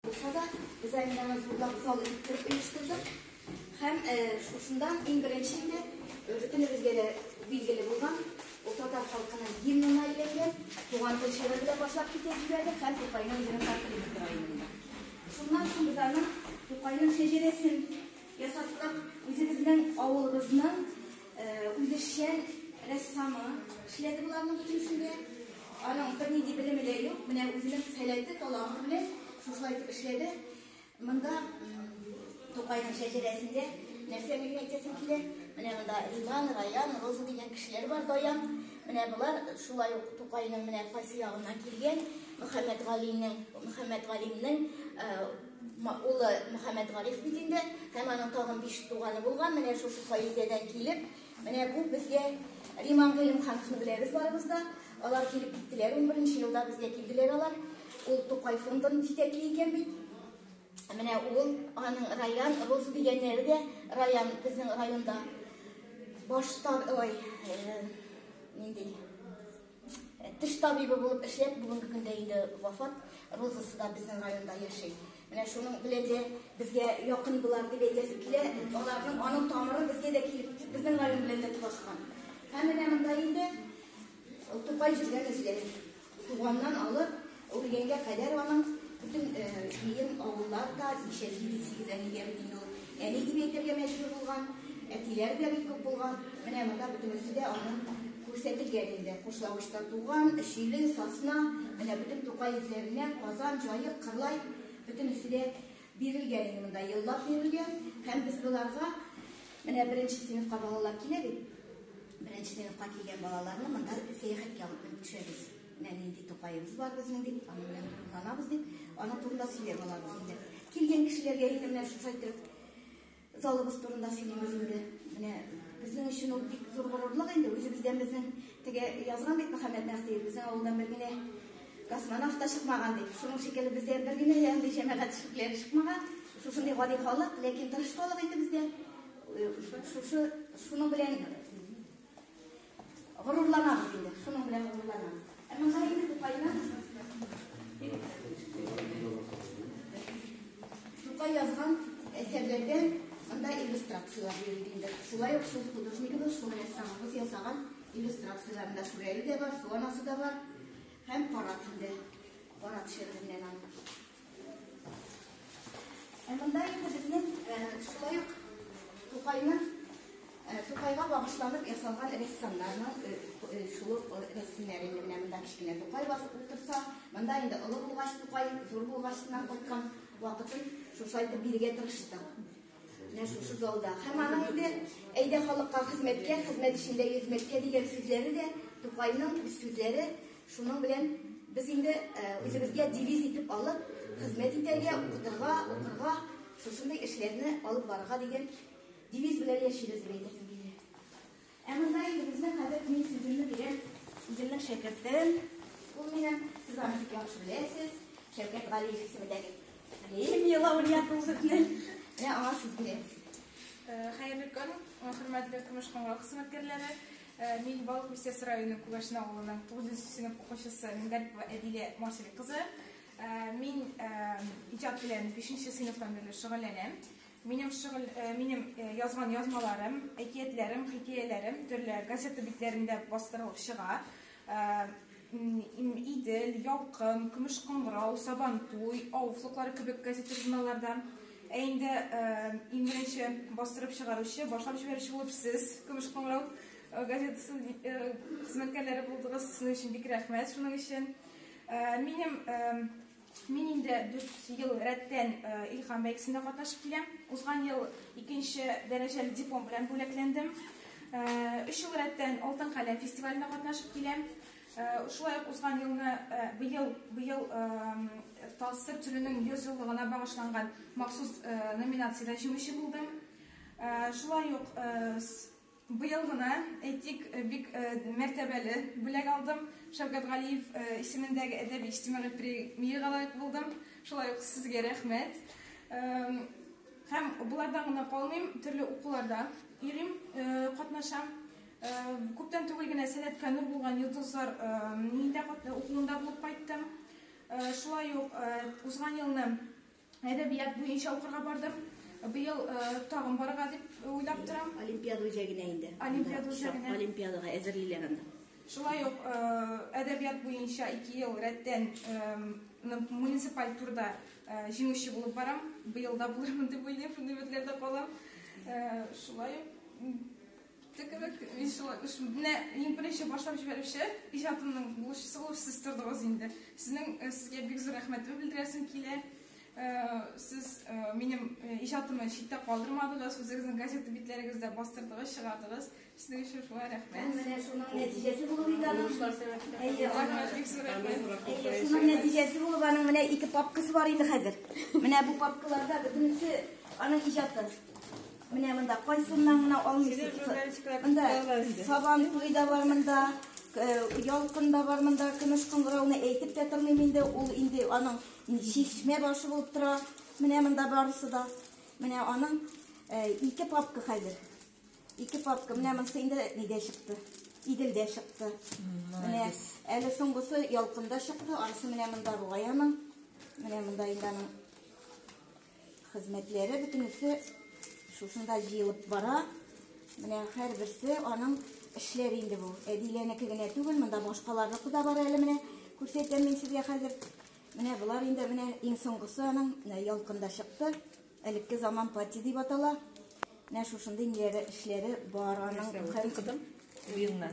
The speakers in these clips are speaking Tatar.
Булса да, без әле аны зурлап зал итеп оештырдык. Һәм шушында иң беренче инде бөтенебезгә дә билгеле булган ул татар халкының гимнына әйләнгән туган тел шигыре белән башлап китеп җибәрде һәм Тукайның үзенең тартылып тора инде. Шуннан соң без аны Тукайның шәҗәрәсен ясаттык, үзебезнең авылыбызның Үзешчән рәссамы эшләде боларның бөтенесендә. Аның бернинди белеме дә юк. Менә үзенең сәләте, таланты белән шушылай итеп эшләде. Монда Тукайның шәҗәрәсендә нәрсә генә әйтәсең килә. Менә монда Иван, Раян, Роза дигән кешеләр бар, Даян. Менә болар шулай ук Тукайның менә кайсы ягыннан килгән Мөхәммәт Галинең, Мөхәммәт Галимнең Улы Мөхәммәтгариф бит инде, һәм аның тагын биш туганы булган. Менә шушы каиләдән килеп, менә бу безгә Риман Гыйлемхановны беләбез барыбыз да. Алар килеп киттеләр, унберенче елда безгә килделәр алар. Ул Тукай фондын җитәкли икән бит. Менә ул, аның Раян, Роза дигәннәре дә Раян безнең районда. Баштар, ой, э, нинди Теш табибы булып эшләп, бүгенге көндә инде вафат. Розасы да безнең районда яши. Менә шуның белән дә безгә якын булар дип әйтәсе килә. Аларның аның тамыры безгә дә килеп, безнең район белән дә тулашкан. Һәм менә монда инде Тукай җиргә безгә туганнан алып, Үлгәнгә кадәр аның бөтен җыен авыллар да ничә җиде сигез әнигә бит ул әни дип әйтергә мәҗбүр булган, әтиләр дә бик күп булган. Менә монда бөтенесе дә аның күрсәтелгән инде. Кушлавычта туган, Өчиле, Сасна, менә бөтен Тукай үзләреннән Казан, Җаек, Кырлай бөтенесе дә бирелгән инде монда еллап бирелгән һәм без боларга менә беренче сыйныфка балалар килә бит. Беренче сыйныфка килгән балаларны монда сәяхәткә алып төшәбез. Менә нинди Тукаебыз бар безнең дип, аның белән горурланабыз дип, аның турында сөйләп алабыз инде. Килгән кешеләргә инде менә шушы итеп залыбыз турында сөйлибез инде. Менә безнең өчен ул бик зур горурлык инде. Үзебездән безнең теге язган бит Мөхәммәд Мәһдиев, безнең авылдан бер генә космонавт та чыкмаган дип. Шуның шикелле бездә бер генә андый җәмәгать эшлекләре чыкмаган. Шушындый гади халык, ләкин тырыш халык инде бездә. Шушы, шуның белән Горурланабыз инде, шуның белән горурланабыз. Ә монда инде Тукайны Тукай язган әсәрләрдә монда иллюстрацияләр бирелде инде. Шулай ук шул художникыбыз, шул рәссамыбыз ясаган иллюстрацияләрендә Шүрәле дә бар, Су анасы да бар һәм Карат инде. Карат шигыреннән аның. Ә монда инде безнең шулай ук Тукайның Тукайга багышланып ясалган рәссамнарның шул ук рәсемнәре менә монда кечкенә Тукай басып утырса, монда инде олы булгач Тукай, зур булгачыннан кайткан вакытын шушайтып бирергә тырыштык. Менә шушы залда. Һәм аның инде әйдә халыкка хезмәткә, хезмәт эчендә йөзмәткә дигән сүзләре дә Тукайның үз сүзләре. Шуның белән без инде үзебезгә девиз итеп алып, хезмәт итәргә, укытырга, укырга, шушындый эшләрне алып барырга дигән девиз белән яшибез, дип әйтәсем килә. Ә монда инде безнең хәзер мин сүземне бирәм үземнең шәкертем. Ул минем, сез аны бик яхшы беләсез. Шәүкәт Галиев исемендәге премия лауреаты үземнең. Менә аңа сүз бирәм. Хәерле көн, хөрмәтле тормыш кыңгырау хезмәткәрләре. Мин Балык Бистәс районы Күгәшнә авылының 9 сыйныф укучысы Мингарипова Әдилә Марсель кызы. Мин иҗат белән 5 сыйныфтан бирле шөгыльләнәм. Минем шөгыль, минем язган язмаларым, әкиятләрем, хикәяләрем төрле газета битләрендә бастырылып чыга. Идел, Ялкын, Көмеш кыңгырау, Сабантуй, Ау флоклары кебек газета-журналларда. Ә инде иң беренче бастырып чыгаручы, башлап җибәрүче булып сез, Көмеш кыңгырау газетасы хезмәткәрләре булдыгыз. Сезнең өчен бик рәхмәт шуның өчен. Минем Мин инде дүрт ел рәттән Илһам бәйгесендә катнашып киләм. Узган ел икенче дәрәҗәле диплом белән бүләкләндем. Өч ел рәттән Алтын каләм фестивалендә катнашып киләм. Шулай ук узган елны быел быел Талсыр төренең 100 еллыгына багышланган махсус номинациядә җиңүче булдым. Шулай ук Быел гына, әйтик, бик мәртәбәле бүләк алдым. Шәүкәт Галиев исемендәге әдәби-иҗтимагый премиягә лаек булдым. Шулай ук сезгә рәхмәт. Һәм болардан гына калмыйм, төрле укуларда йөрим, катнашам. Күптән түгел генә Сәләткә нур булган йолдызлар мине дә укуында булып кайттым. Шулай ук узган елны Әдәбият буенча укырга бардым. Быел тагын барырга дип уйлап торам. Олимпиада үзәгенә инде. Олимпиада үзәгенә. Олимпиадага әзерлиләр анда. Шулай ук әдәбият буенча ике ел рәттән муниципаль турда җиңүче булып барам. Быел да булырмын дип уйлыйм, шундый өметләрдә калам. Шулай ук Текелек вишла, үш, менә иң беренче башлап җибәрүче иҗатымның булышчысы булып сез тордыгыз инде. Сезнең э, сезгә бик зур рәхмәтемне белдерәсем килә. Э, сез э, минем э, иҗатымны читтә калдырмадыгыз, үзегезнең газета битләрегездә бастырдыгыз, чыгардыгыз. Сезнең өчен шулай рәхмәт. Менә шуның нәтиҗәсе булып инде аның. Әйе, Рәхмәт, бик зур рәхмәт. әйе, шуның нәтиҗәсе булып аның менә ике папкасы бар инде хәзер. Менә бу папкаларда бөтенесе аның иҗаты. Менә монда кайсыннан гына алмыйсыз. Монда сабан туй да бар монда, э, ялкын да бар монда, көмеш кыңгырауны әйтеп тә тормыйм инде. Ул инде аның чишмә башы булып тора. Менә монда барысы да. Менә аның э, ике папка хәзер. Ике папка. Менә монысы инде нидә чыкты? Иделдә чыкты. Менә әле соңгысы ялкында чыкты. Анысы менә монда бугай аның. Менә монда инде аның Хезмәтләре бөтенесе шушында җыелып бара. Менә һәрберсе аның эшләре инде бу. Әдиләнеке генә түгел, монда башкаларныкы да бар әле менә. Күрсәтәм мин сезгә хәзер. Менә болар инде менә иң соңгысы аның ялкында чыкты. Элекке заман пати дип атала. Менә шушындый ниләре эшләре бар аның. Нәрсә укыдым? Уеннар.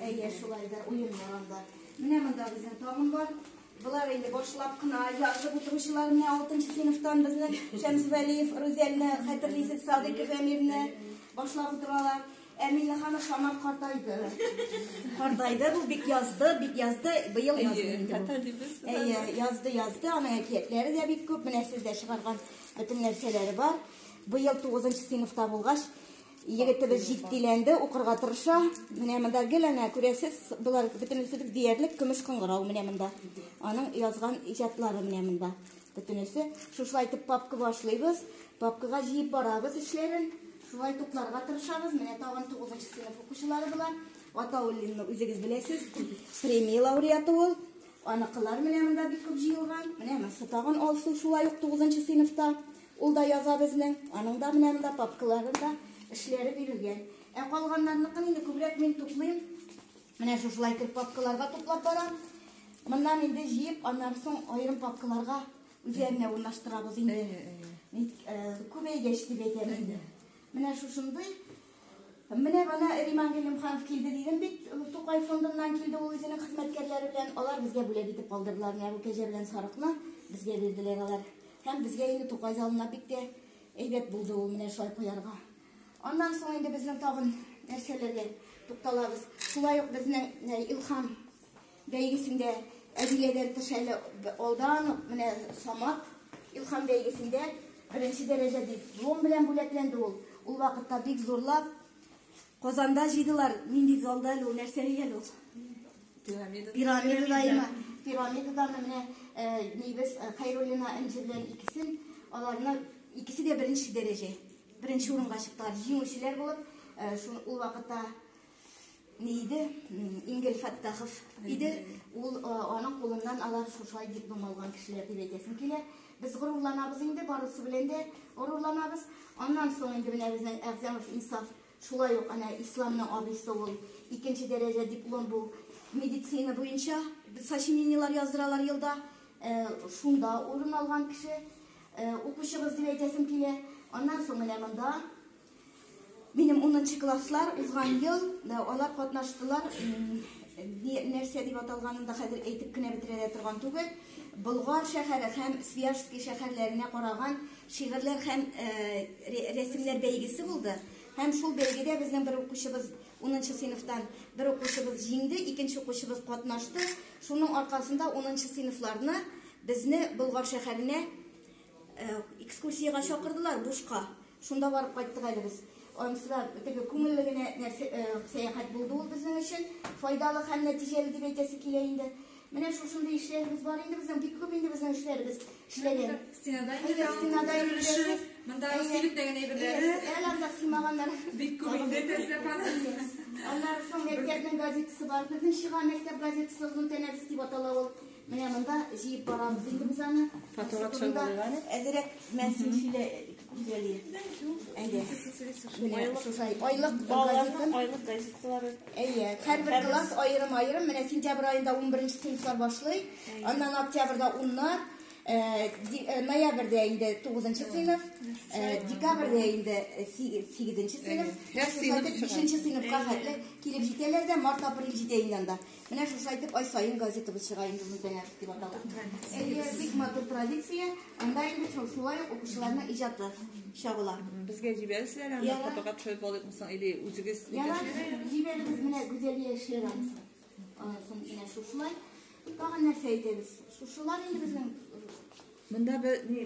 Әйе, шулай да уеннар анда. Менә монда безнең тагын бар. Болар инде башлап кына язып утыручылар менә 6 сыйныфтан безнең Шәмс Вәлиев, Рузәлне хәтерлисез, Садыйков Әмирне башлап утыралар. Ә Миннеханов Самат картайды. Картайды, бу бик язды, бик язды, быел язды инде. Әйе, язды, язды, аның әкиятләре дә бик күп, менә сездә чыгарган бөтен нәрсәләре бар. Быел тугызынчы сыйныфта булгач, егетебез җитдиләнде, укырга тырыша. Менә монда гел әнә күрәсез, болар бөтенесе диярлек көмеш кыңгырау менә монда. Аның язган иҗатлары менә монда. Бөтенесе шушылай итеп папка башлыйбыз, папкага җыеп барабыз эшләрен. Шулай тупларга тырышабыз. Менә тагын 9 нчы сыйныф укучылары була. Атауллинны үзегез беләсез. Премия лауреаты ул. Аныкылар менә монда бик күп җыелган. Менә монысы тагын Алсу шулай ук 9 нчы сыйныфта. Ул да яза безнең, аның да менә монда папкаларында эшләре бирелгән. Ә калганнарныкын инде күбрәк мин туплыйм. Менә шушылай итеп папкаларга туплап барам. Моннан инде җыеп, аннан соң аерым папкаларга үзләренә урнаштырабыз инде. Ник күбәйгәч дип әйтәм инде. Менә шушындый Менә бана Риман Галимханов килде дидем бит, Тукай фондыннан килде ул үзенең хезмәткәрләре белән, алар безгә бүләк итеп калдырдылар, менә бу кәҗә белән сарыкны безгә бирделәр алар. Һәм безгә инде Тукай залына бик тә әйбәт булды ул менә шулай куярга. Аннан соң инде безнең тагын нәрсәләргә тукталабыз. Шулай ук безнең Илхам Бәйгесендә Әдиләдән тыш әле алдан ук менә Самат Илхам бәйгесендә беренче дәрәҗә диплом белән бүләкләнде ул. Ул вакытта бик зурлап Казанда җыйдылар. Нинди залда әле ул, нәрсә дигән ул? Пирамида. Пирамида имә. Пирамидадан менә нибез Хайруллина Энҗе белән икесен аларны икесе дә беренче дәрәҗә. Беренче урынга чыктылар. Җиңүчеләр булып, ул вакытта не иде, Ингел Фәттахов иде, ул аның кулыннан алар шушай диплом алган кешеләр дип әйтәсем килә. Без горурланабыз инде, барысы белән дә горурланабыз. Аннан соң инде менә безнең Әгъзамов Инсаф шулай ук әнә исламның абыйсы ул икенче дәрәҗә диплом бу медицина буенча сочинениелар яздыралар елда. Э, шунда урын алган кеше, э, укучыбыз дип әйтәсем килә. Аннан соң менә монда Минем унынчы класслар узган ел да алар катнаштылар. Нәрсә дип аталганын да хәзер әйтеп кенә бетерә дә торган түгел. Болгар шәһәре һәм Свияжский шәһәрләренә караган шигырьләр һәм рәсемнәр бәйгесе булды. Һәм шул бәйгедә безнең бер укучыбыз, 10нчы сыйныфтан бер укучыбыз җиңде, икенче укучыбыз катнашты. Шуның аркасында 10нчы сыйныфларны безне Болгар шәһәренә Экскурсиягә чакырдылар Бушка. Шунда барып кайттык әле без. Анысы да теге күңелле генә нәрсә э, сәяхәт булды ул безнең өчен. Файдалы һәм нәтиҗәле дип әйтәсе килә инде. Менә шушындый эшләребез бар инде безнең, бик күп инде безнең эшләребез эшләгән. Стенада инде Әйе, тагын стенада күп инде төрлесе. эшләдек. Монда Әйе. сиректәгән әйберләре. Әйе, Әле анда сыймаганнар. Бик күп инде тәзләп алып. Аннары соң мәктәпнең газетасы бар. Безнең чыга мәктәп газетасы Озын тәнәфес дип атала ул. Менә монда җыеп барабыз инде без аны. Фатура төшереп алыйк әле. Әзерәк мәнсин сөйлә гүзәли. Әйдә. Менә шушай айлык газетын. Айлык газетлары. Әйе, һәрбер класс аерым-аерым. Менә сентябрь аенда 11 сыйныфлар башлый. Аннан октябрьдә уннар, ноябрьдә инде 9 сыйныф, декабрьдә инде 8 сыйныф. Һәр сыйныф 5 сыйныфка хәтле килеп җитәләр дә март-апрель җитә инде анда. Менә шушы әйтеп ай саен газетабыз чыга инде ул дәяр дип атала. Әйе, бик матур традиция. Анда инде шул шулай ук укучыларның иҗаты чагыла. Безгә җибәрсезләр анда табага төшереп алып мисал или үзегез. Ярар, җибәрегез менә Гүзәлия Ширан. Ансын менә шушылай. Тагын нәрсә әйтәбез? Шушылар инде безнең. Монда бер ни